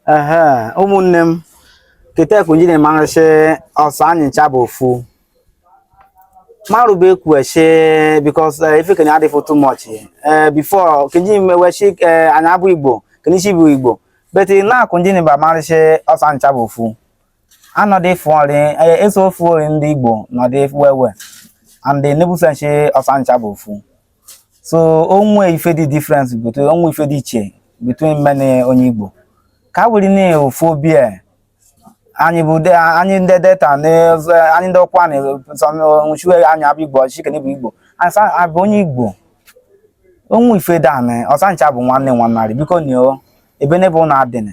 ehe ụmụnne m kete ku njiri marị sị ọsa anyị ncha bụ ofu marụba ekwueshi because ife kene adịfụ too much ee before kenji meweshi ee anyị abụ igbo kenichi bụ igbo but now ku njiri ba marị sị ọsa anyị ncha bụ ofu anọdụ ịfụ ọrị ee, eso ofu ori ndị igbo nọdụ wewe and nebusenshi ọsa anyị ncha bụ ofu so o nwe ife dị difference between o nwe ife dị iche between me ni onye Igbo ka wuri ne ofu obi a anyị bụ de anyị ndị Delta na anyị Ndokwa na nwụchiwe anyị abụ Igbo shị kene bụ Igbo asa abụ onye Igbo o nwe ife dị anị ọsa ncha bụ nwanne nwanarị biko ni o ebe n'ebe ụnụ adịnị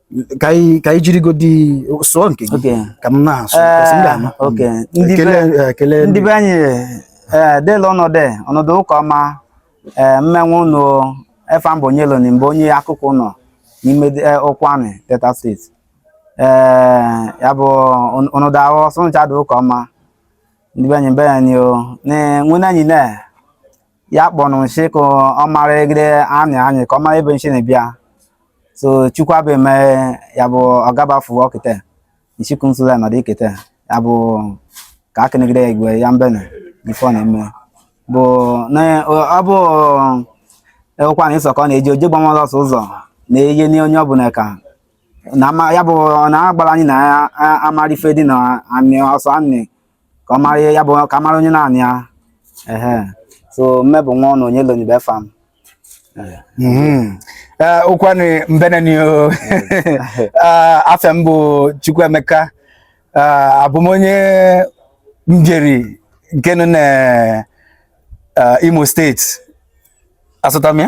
ka anyị ka anyị jirigodi sụọ nke gị Okay. ka m na-asụ kasị m ga-ama Eh, okay. Mm. Ndị Ekele, be- eh, ekele ndị be anyị ee dela ọnọdụ ọnọdụ ụka ọma ee mme nwa ụnụ efa m bụ Onyeloni m bụ onye Akoku Ụnọ n'ime de- eh, Ụkwụanị Delta State ee ya bụ ọn- ọnọdụ ahụ ọsa ncha dị ụka ọma ndị be anyị be anyị o na nwenne anyị na ya kpọnụ nshi ka ọ mara egide anị anyị ka ọ mara ebe nshi na-ebịa so chukwu abụ eme ya bụ ọgabafu ọkịta nshikwu nsụla nọdụ ikete ya bụ ka akịnegide ya igwe ya mbene ife ọ na-eme bụ na ọ bụ Ụkwụanị sọ ka ọ na-eji oje gbamọla ọsọ ụzọ na-eyi ni onye ọbụla ka na ama ya bụ na agbara anyị na ya amara ife dị na anị ọsọ anị ka ọ mara ihe ya bụ ka mara onye na anị ya ehe so mme bụ nwa ọnụ Onyeloni bụ efa m Ụkwụanị mhm. eh, mbene ni eh, afa m bụ Chukwuemeka eh, abụ m onye Mbieri nke nọ na Imo State asụta m ya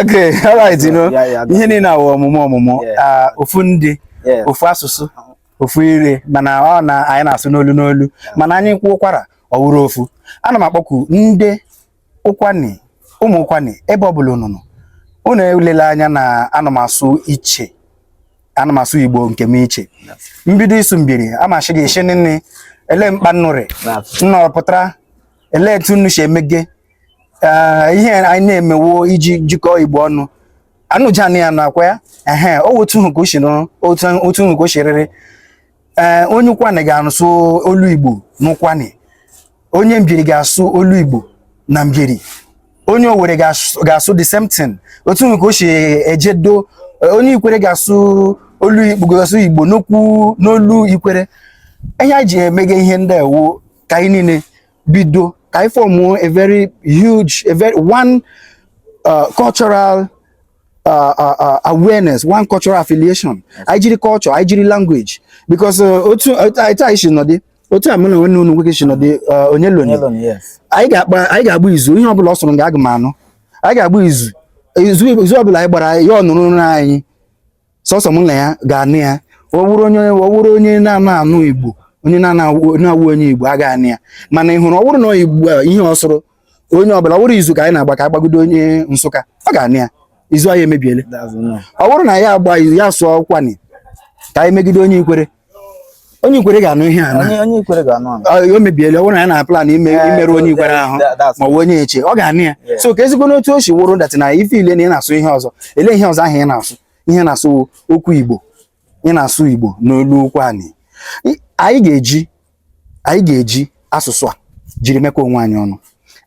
okay all right you know ihe niile awụ ọmụmụ ọmụmụ ah, ofu ndị ofu asụsụ ofu ire mana ọ na anyị na-asụ n'olu n'olu mana anyị kwukwara ọ wụrụ ofu ana m akpọku ndị Ụkwụanị ụmụ Ụkwụanị ebe ọ bụla unu nọ unu elela anya na ana m asụ iche ana m asụ igbo nke m iche mbido Isu Mbieri amachi gị isi nne ele mkpa nnu rị nnu pụtara ele etu nnu si emege ihe anyị na-eme wụ iji jikọọ igbo ọnụ anụjana ya nakwa ya ehe otu hụ ka o si nụrụ otu hụ ka o si rịrị ee onye Ụkwụanị ga-asụ olu igbo n'Ụkwụanị onye Mbieri ga-asụ olu igbo na Mbieri onye Owere ga-asụ the same thing otu hụ ka o si ejedo onye ikwere ga-asụ olu igbo ga-asụ igbo n'okwu n'olu ikwere ihe anyị ji emega ihe ndị a wụ ka anyị niile bido ka anyị fọmụọ a very huge a very one uh, cultural uh, uh, uh, awareness one cultural affiliation anyị jiri culture anyị jiri language because uh, otu otu anyị taa si nọdị otu a mụ na nwanne m nwoke si nọdị uh, onye loni Hello, yes. anyị ga-akpa anyị ga-agba izu ihe ọbụla ọ sụrụ m ga-aga m anụ anyị ga-agba izu izu izu ọbụla anyị gbara ya ọ nụrụ na anyị sọsọ m na ya ga-anụ ya ọ wụrụ onye ọ wụrụ onye na-ana anụ igbo onye na-awụ onye igbo a ga-anụ ya mana ị hụrụ ọ wụrụ na igbo ihe ọ sụrụ onye ọbụla ọ wụrụ izu ka anyị na-agba ka a gbagide onye nsụka ọ ga-anụ ya izu anyị emebiele ọ bụrụ na ya agba ya sụọ ụkwụani ka anyị megide onye ikwere onye ikwere ga-anụ ihe a na onye ikwere ga-anụ anụ Ọ- o mebiela ọ bụrụ na ya na plan ime Eh, imerụ so onye ikwere that- ahụ that- that's- ma ọ bụ onye eche ọ ga-anụ ya Yeah. so ka ezigbo n'otu o si wụrụ that na ị feel na ị na-asụ ihe ọzọ ele ihe ọzọ ahụ ị na-asụ ihe ị na-asụ wụ okwu igbo ị na-asụ igbo n'olu ụkwụani I- anyị ga-eji anyị ga-eji asụsụ a jiri mekọ onwe anyị ọnụ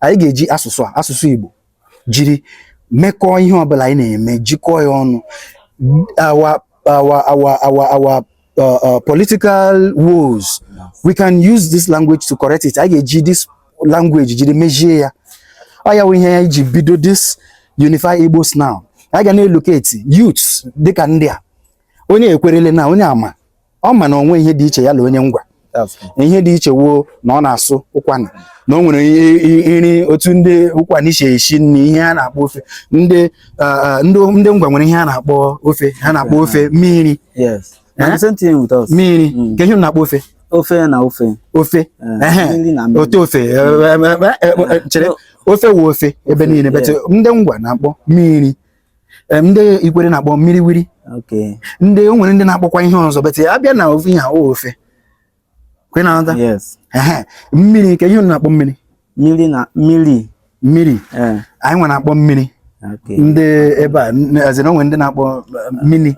anyị ga-eji asụsụ a asụsụ igbo jiri mekọọ ihe ọbụla anyị na-eme jikọọ ya ọnụ our our our our our uh, uh, political woes we can use this language to correct it anyị ga-eji this language jiri mejie ya ọ ya wụ ihe anyị ji bido this unify Igbos now anyị ga na-elocate youths dịka ndị a onye ekwerele na onye a ma ọ ma na o nwe ihe dị iche ya na onye ngwa ihe dị iche wụ na ọ na-asụ ụkwụani na o nwere nri otu ndị ụkwụani si esi nri ihe a na-akpọ ofe ndị ndị ngwa nwere ihe a na-akpọ ofe ha na-akpọ ofe mmiri mmiri mm. kee ihe ị na-akpọ ofe ofe na ofe ofe eh, ote ofe eh, eh, chere ofe wụ ofe ebe niile but ndị ngwa na-akpọ mmiri ndị ikwere na-akpọ mmiri wiri ndị o nwere ndị na-akpọkwa ihe ọzọ but ya abịa na ofe ihe ahụ ofe kwe ị na-aghọta mmiri kee ihe ị na-akpọ mmiri mmiri na mmiri mmiri eh. anyị nwa na-akpọ mmiri ndị ebe a ezere o nwe ndị na-akpọ eh, mmiri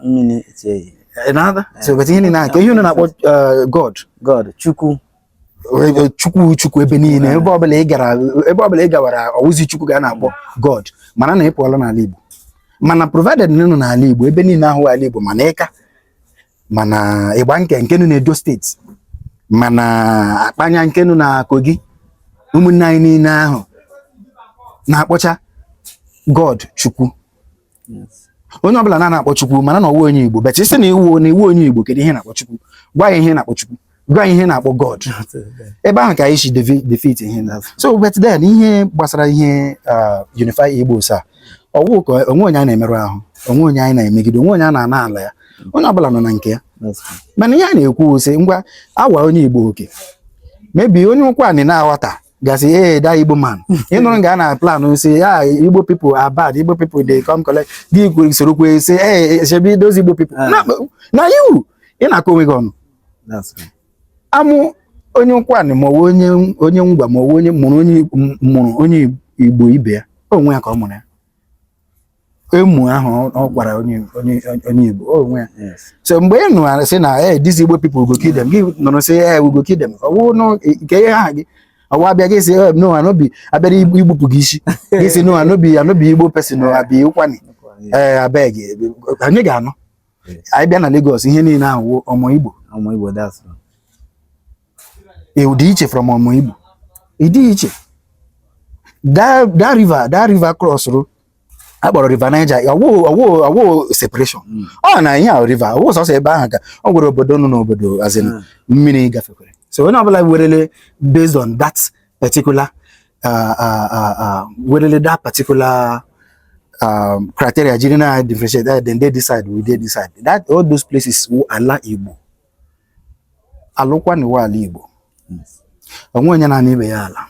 ị na-aghọta so but ihe niile kee ihe ị na-akpọ eh, god god chukwu chukwu chukwu ebe niile ebe ọbụla ị gara ebe ọbụla ị gawara ọ wụzi chukwu ka a na-akpọ god mara na ị pụọla n'ala igbo mana provided na ị nọ n'ala igbo ebe niile ahụ ala igbo ma na ịka ma na ịgbanke nke nọ na edo state ma na akpanya nke nọ na kogi ụmụnne anyị niile ahụ na-akpọcha god chukwu onye ọbụla na-ana akpọ Chukwu mara na ọ wa onye Igbo but ị sị na ị wụ na ị wụ onye Igbo kedu ihe ị na-akpọ Chukwu gwa anyị ihe ị na-akpọ Chukwu gwa anyị ihe ị na-akpọ God ebe ahụ ka anyị si defeat ihe so but then ihe gbasara ihe uh, unify Igbos a ọ wụ ka o nwe onye a na-emerụ ahụ o nwe onye anyị na-emegide o nwe onye a na-ana ala ya onye ọbụla nọ na nke ya mana ihe a na-ekwu sị ngwa awa onye Igbo okay maybe onye ụkwụani na-aghọta ga-asị ee that igbo man ị nụrụ nga a na-plan sị ya igbo people are bad igbo people dey come collect gị kwe- soro kwe sị ee shebi those igbo people Ah. na na you ị na-akọ onwe gị ọnụ That's right. amụ onye Ụkwụanị ma ọ bụ onye onye ngwa ma ọ bụ onye mụrụ onye m- mụrụ onye igbo ibe ya onwe ya ka ọ mụrụ ya emu ahụ ọ- ọ kwara onye onye onye Igbo ọ onwe ya Yes. so mgbe ị nụrụ sị na eh these Igbo people go kill them gị nụrụ sị eh we go kill them ọ wụ nụ nke ihe aha gị ọ wụ a bịa gị sị eh no I no be a bịara igbu- igbupụ gị isi gị sị no I no be I no be Igbo person o I be Ụkwụanị ee abeg anyị ga-anụ anyị bịa na Lagos ihe niile ahụ wụ ọmọ Igbo Ọmọ Igbo that's all. ị dị iche from ọmọ Igbo ị dị iche that that river that river crossrụ a kpọrọ river Niger ọ wụ separation hmm. ọ na ihe a river ọ wụ sọsọ ebe ahụ ka o nwere obodo nọ n'obodo as in hmm. mmiri gafekwere so onye ọbụla werele based on that particular uh, uh, uh, werele that particular um, criteria jiri na differentiate then they decide we dey decide that all those places wụ ala Igbo ala Ụkwụanị wụ ala Igbo o nwe onye na-ana ibe ya ala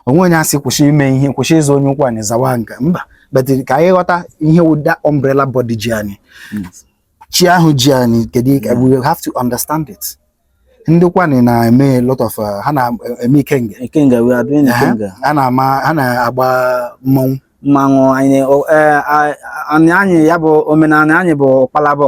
o nwe onye a sị kwụsị ime ihe kwụsị ịza onye Ụkwụanị zawa nke a mba but ka anyị ghọta ihe wụ that umbrella body ji anyị chi ahụ ji anyị kedu ike we have to understand it ndị Ụkwụanị na-eme lot of uh, ha na-eme ikenga ikenga we are doing ikenga ha na-ama ha na-agba mmanwụ mmanwụ anyị eh, anyị ya bụ omenala anyị bụ kpalabọ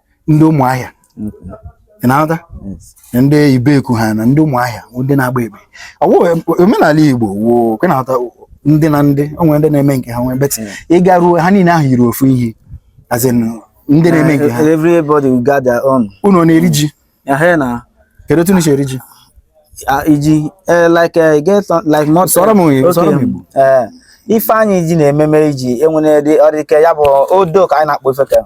ndị ụmụahịa ị na-aghọta ndị ibeku ha na ndị ụmụahịa ndị na-agba ekpe ọ wụ omenala igbo wo kwe na-aghọta ndị na ndị o nwere ndị na-eme nke ha nwee but ị garuo ha niile ahụ yiri ofu ihe as in ndị na-eme nke ha everybody will got their own unu ọ na-eri ji ehe na kedu otu unu si eri ji ah, iji eh, like eh, get some- like not Sụọrọ m onye, Okay, sụọrọ m Igbo. eh, ife anyị ji na-ememe iji e nwere dị ọdịke ya bụ odo ka anyị na-akpọ ife ka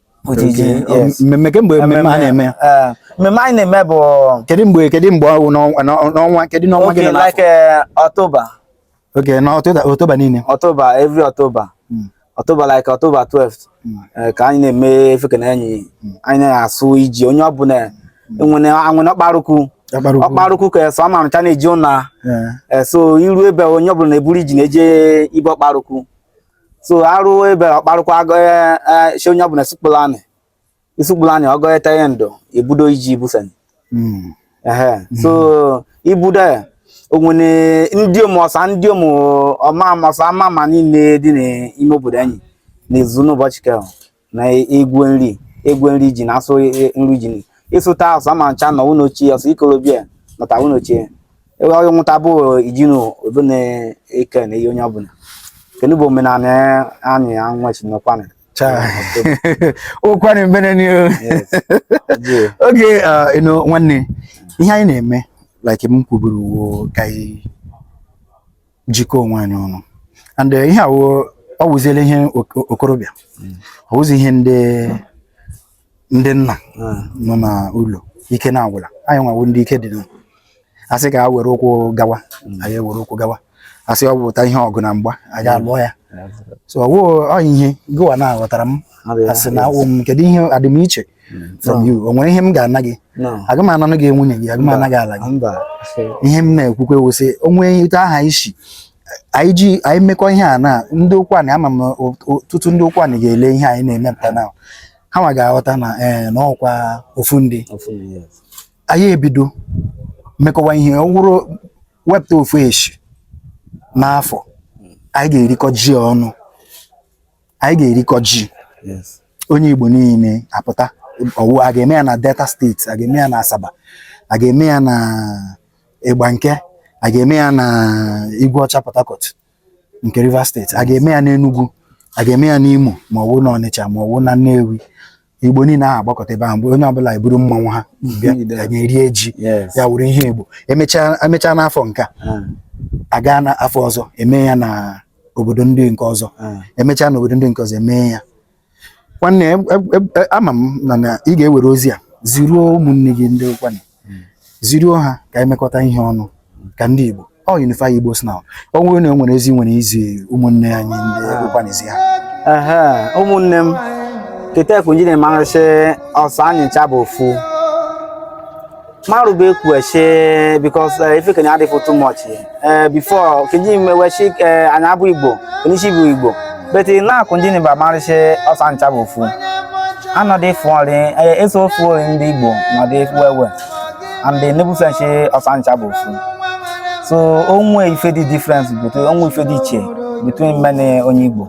Otu iji, Okay. Ọ- yes. mmemme kemgbe mmemme a na-eme ya Eh, mmemme anyị na-eme bụ kedu mgbe kedu mgbe ọ wụ n'ọnwa- n'ọ- n'ọnwa kedu n'ọnwa gị oge nọ n'afọ? like eh, October okay na October October niile October every October Mm. October like October 12th Mm. eh, ka anyị na-eme ife kenị enyi anyị na-asụ iji onye ọbụla e nwene e nwene ọkpara ukwu Ọkpara ukwu. ọkpara ukwu ka eso amarụcha na-eji ụna Eh, Eh, so e ru ebe onye ọbụla na-eburu iji na-eje ibe ọkpara ukwu so e ru ebe ọkpara ukwu a gọsị onye ọbụla sekpuru anị i sekpuru anị ọ gọ eteghị ndụ ebudo iji ibufen ehe so ibudo ya o nwere ndị ụmụ ọsa ndị ụmụ ọma ọsa ama ma niile dị n'ime obodo anyị na-ezu n'ụbọchị kehụ na egwe nri egwe nri ji na asụ nri ji ịsụta asụ ama ncha na ụlọ ochie ọsụ ikorobịa nọta ụlọ ochie ewe ọrụ nwụta bụ ijinu obe na-eke na ihe onye ọbụla kedu bụ omenala anyị ya nwa chi n'Ukwuani Ukwuani mbene ni okay nwanne ihe anyị na-eme like m kwuburu ka anyị jikọọ onwe anyị ọnụ and eh, ihe a wụ ọ wụziela ihe okorobịa hmm. ọ wụzi ihe ndị ndị nna hmm. nọ na ụlọ ike na-agwụla anyị nwa wụ ndị ike dị asị ka a were ụkwụ gawa hmm. anyị were ụkwụ gawa asị ọ bụta ihe ọgụ na mgba anyị alụọ ya so ọ wụ ya ihe gụwa na-aghọtara m asị na awụ m kedu ihe a dị m iche from you o nwere ihe m ga-ana gị aga m ananụ gị nwunye gị aga m ana gị ala gị ihe m na-ekwukwe wụ sị o nwee etu a ga-esi anyị ji anyị mekọ ihe a na ndị Ukwuani ama m ọtụtụ ndị Ukwuani ga-ele ihe anyị na-emepụta na ha nwa ga-aghọta na ee eh, na ọkwa ofu ndị anyị ebido mekọwa ihe ọ wụrụ wepụta ofu eshi n'afọ anyị ga-erikọ ji ọnụ anyị ga-erikọ ji onye Igbo niile apụta ọ wụ a ga-eme ya na Delta State a ga-eme ya na Asaba a ga-eme ya na Igbanke a ga-eme ya na Igweọcha Port Harcourt nke Rivers State a ga-eme ya n'Enugu a ga-eme ya n'Imo ma ọ wụ n'Ọnịcha ma ọ wụ na Nnewi igbo niile ahụ agbakọta ebe ahụ mgbe onye ọbụla eburu mmanwụ ha bịa Ide. anyị erie ji Yes. ya wụrụ ihe igbo emechaa emechaa n'afọ nke a Ah, a gaa na afọ ọzọ eme ya na obodo ndị nke ọzọ ah. emechaa na obodo ndị nke ọzọ eme ya nwanne e- e- e- ama m na na ị ga-ewere ozi a ziruo ụmụnne gị ndị Ukwuani hmm. ziruo ha ka anyị mekọta ihe ọnụ ka ndị Igbo ọ unify Igbos now o nwere na enwere ozi nwere izi ụmụnne anyị ndị Ukwuani zi ha ụmụnne m ketefu nji na-emarị sị ọsa anyị ncha bụ ofu marụba ekwuechi because ife keni adịfụ too much ee before keji mewechi ee anyị abụ igbo onyeisi bụ igbo but na-akụ ndị nịba marị sị ọsa ncha bụ ofu anọdụ ịfụ ọrị ee, eso ofu ọrị ndị igbo nọdụ ịfụ ewe and nebusenshi ọsa ncha bụ ofu so o nwe ife dị difference between o nwe ife dị iche between me ni onye igbo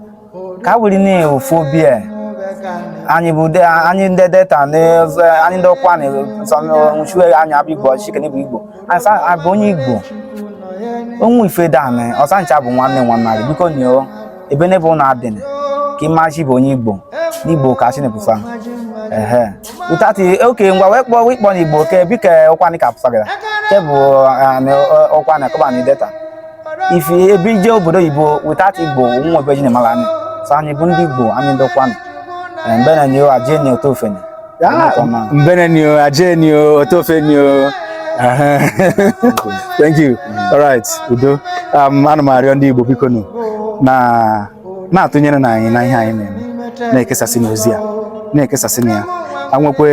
ka a were na ofu obi a anyị bụ de- anyị ndị Delta na ọzọ- anyị ndị Ukwuani nwụchiwe anyị abụ igbo ọchịchị kene bụ igbo anyị sa abụ onye igbo o nwe ife dan ọsa ncha bụ nwanne nwanne anyị biko nyoo ebe n'ebe ụlọ adịn ka ịmachi bụ onye igbo n'igbo ka chinepufa ehe utati oke ngwa wee kpọọ wee kpọọ n'igbo ke bike Ukwuani ka pụsagara ke bụ Ukwuani kọbanị Delta if ebe ije obodo oyibo without igbo nwa ebe e ji na-amara anyị so anyị bụ ndị igbo anyị ndị ukwuani mbene ni o aje ni otofe ni mbene ni o aje ni o otofe ni o thank you all right udo um, ana m arịọ ndị igbo biko nụ na-atụnyere nụ anyị na ihe anyị na-eme na-ekesasị nụ ozi a na-ekesasị nụ ya anwekwe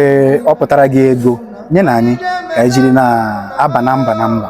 ọ pụtara gị ego nye nụ anyị ka anyị jiri na-aba na mba na mba